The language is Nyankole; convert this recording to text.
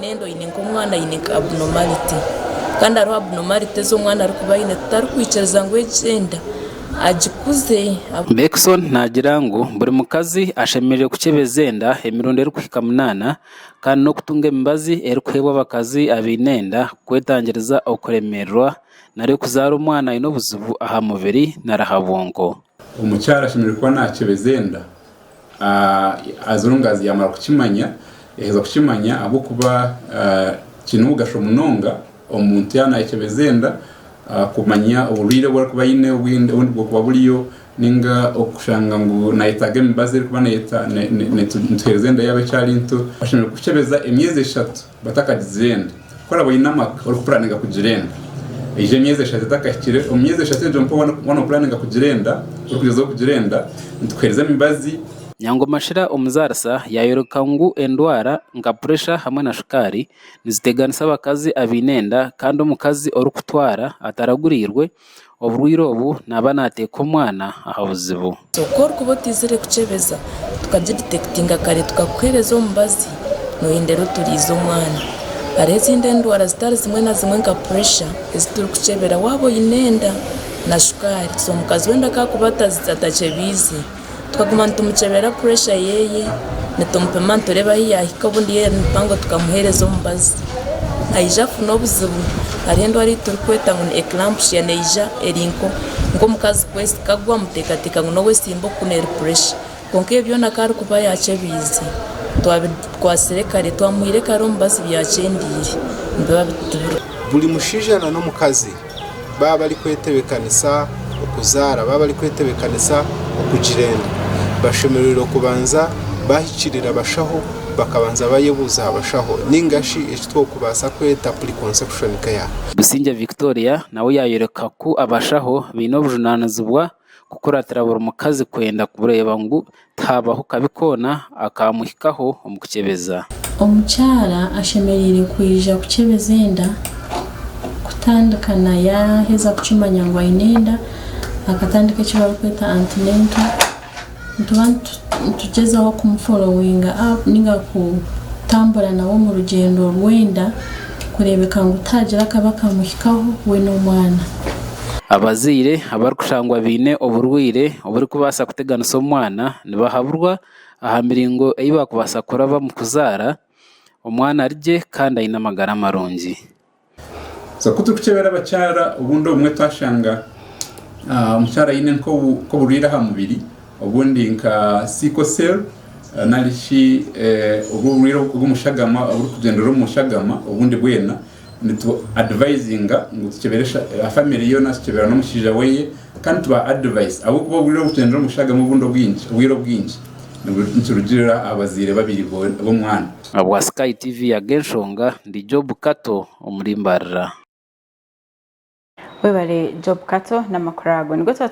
Nenda oyine nka omwana ayine nka abnormality Kandi hariho abnormality ezi omwana arikuba ayine tutarikwikiriza ngu egi enda agikuze. Beckson naagira ngu buri mukazi ashemereire kukyebeza enda emirundi erikuhika munaana kandi n'okutunga emibazi erikuheebwa abakazi abaine enda kwetangiriza okuremererwa nari okuzaara omwana aine obuzibu aha mubiri nari aha bwonko. Omukyara ashemereire kuba nakyebeza enda as long as yamara kukimanya yaheza kukimanya ahabwokuba kiine omugasho munonga omuntu yaba nayekyebeza enda kumanya oburwaire obu arikuba aine obwine obundi bwokuba buriyo ninga okushanga ngu nayetaaga emibazi erikuba netuhereza enda yaaba ekyari nto, oshemereire kukyebeza emyezi eshatu Batakagizire enda. Ku oraabe oine amaka orikupuraninga kugira enda, eijo emyezi eshatu etakahikire, omu myezi eshatu egyo nikwo waaba noopuraninga kugira enda, orikugyezaho kugira enda, nitukuheereza emibazi. Nyangoma shira omuzaarisa yaayoreka ngu endwara nka puresha hamwe na shukaari niziteganisa abakazi abaine enda kandi omukazi orikutwara ataraguriirwe Oburwaire obu naaba naateeka omwana aha buzibu. Ku orikuba otaizire kukyebeza, tukagiditekitinga kare tukakuheereza omubazi nooyendera oturiize omwana. Hariho ezindi endwara zitari zimwe na zimwe nka puresha ezi turikukyebera waaba oine enda na shukaari. So omukazi weena ku arikuba atakyebeize, Tukaguma nitumukyebera puresha yeeye, nitumupima nitureeba ahu yaahika obundi yaaba eri mpango tukamuheereza omubazi. Aija kufuna obuzibu, hariho endwara ei turikweta ngu ni ekirampushiya neija eri nk'omukazi kagwa amuteekateeka ngu nowe simba oku n'eri puresha. Kwonka ebyo byona ku arikuba yaakyebeize, twabikwatsire kare, twamuhaire kare omubazi byakyendeire. Buri mushaija na n'omukazi. baaba barikwetebeekanisa okuzaara, baaba barikwetebeekanisa okugira enda, bashemereire kubanza baahikirira abashaho, bakabanza baayebuuza aha bashaho nainga shi eki tworikubaasa kweta pre-conception care. Busingye Victoria nawe yaayoreka ku abashaho baine obujunaanizibwa kukuratira buri mukazi kwenda kureeba ngu tihabaho kabi koona akaamuhikaho omu kukyebeza. Omukyara ashemereire kwija kukyebeza enda kutandika na yaaheza kukimanya ngu aine enda, akatandika eki barikweta antenatal. Nituba nitugyezaho kumuforowinga up ninga kutambura nawe omu rugyendo rw'enda kureebeka ngu tihaagira akabi akamuhikaho we n'omwana. Abazaire abarikushangwa baine oburwaire oburikubaasa kuteganisa omwana nibahaburwa aha miringo ei baakubaasa kurabamu kuzaara omwana ari gye kandi aine amagara marungi. So ku turikukyebera abakyara obundi obumwe twashanga ah, omukyara aine nk'obu- nk'oburwaire aha mubiri obundi nka sickle cell ah, nari shi eh, obwo oburwaire obw'omushagama oburikugyendera omu mushagama obundi bwena nitu advisinga ngu tukyebere sha- ah, family yoona tukyebera n'omushaija weye kandi tuba advice ahabw'okuba obwire obukugyendera omu mushagama obundi obwingi obwire obwingi nibu- nikirugirira aha bazaire babiri bo- b'omwana Ahabwa Sky TV Ag'enshonga ndi Job Kato omuri Mbarira. Webale Job Kato n'amakuru ago.